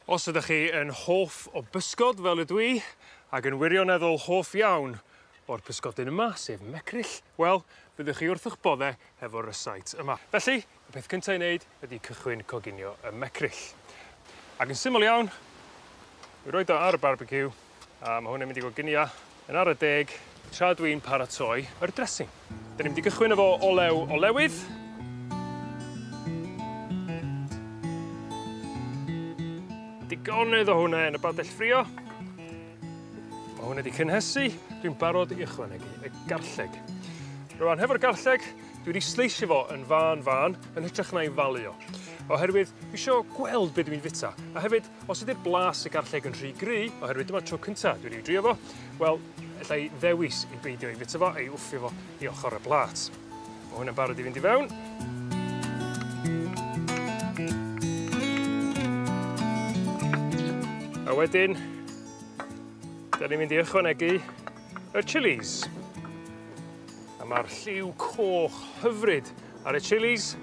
Os ydych chi yn hoff o bysgod fel ydw i, ac yn wirioneddol hoff iawn o'r pysgodyn yma, sef mecryll, wel, byddwch chi wrth 'ych bodde hefo'r rysáit yma. Felly, y peth cynta' i neud ydi cychwyn coginio y mecryll. Ac yn syml iawn, mi roid o ar y barbeciw, A ma' hwn yn mynd i fod gynia yn ara deg tra dw i'n paratoi yr dressing. 'Dyn ni'n mynd i gychwyn efo olew olewydd. Digonedd o hwnne yn y badell ffrio. Ma' hwnne 'di cynhesu, dwi'n barod i ychwanegu y garlleg. Rŵan hefo'r garlleg dwi wedi sleisio fo yn fân fân yn hytrach na'i falu o. Oherwydd dwi isio gweld be' dwi'n fita a hefyd Os ydi'r blas y garlleg yn rhy gry, oherwydd dyma'r tro cynta dwi 'di drio fo, wel, ella i ddewis i beidio ei fita fo a'i wthio fo i ochor y plat. Ma' hwn yn barod i fynd i fewn. A wedyn, 'dan ni'n mynd i ychwanegu y chilis. A ma'r lliw coch hyfryd ar y chilis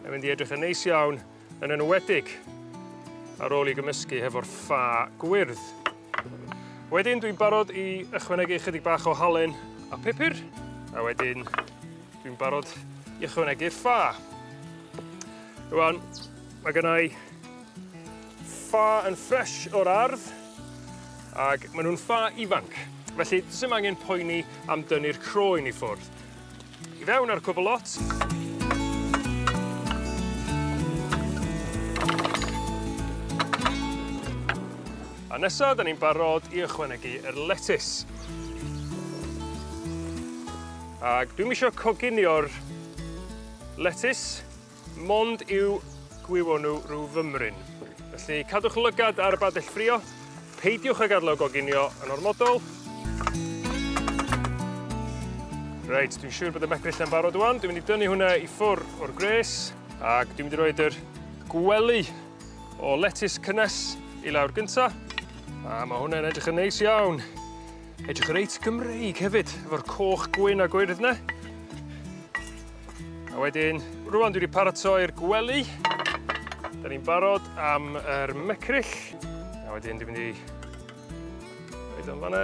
yn mynd i edrych yn neis iawn yn enwedig ar ôl 'i gymysgu hefo'r ffa gwyrdd. Wedyn dwi'n barod i ychwanegu ychydig bach o halen a pupur, a wedyn dwi'n barod i ychwanegu'r ffa. Rwan, mae gynna i ffa yn ffresh o'r ardd, ac maen nhw'n ffa ifanc. Felly, does dim angen poeni am dynnu'r croen i ffwrdd. I fewn a'r cwbl lot. A nesa 'dan ni'n barod i ychwanegu yr letys. Ag dwi'm isio coginio'r letys Mond i'w gwywo n'w rhyw fymryn. Felly cadwch lygad ar y badell ffrio, peidiwch ag ad'el o goginio yn ormodol. Reit, dwi'n siŵr bod y mecryll yn barod ŵan. Dwi'n mynd i dynnu hwnna i ffwr o'r gwres, ac dwi'n mynd i roed yr gwely o letys cynnes i lawr gynta. A ma' hwnna'n edrych yn neis iawn. Edrych reit Gymreig hefyd, efo'r coch gwyn a gwyrdd 'ne. A wedyn, rŵan dwi 'di paratoi'r gwely, 'dan ni'n barod am yr mecryll. A wedyn dwi'n mynd i roid o yn fan 'na.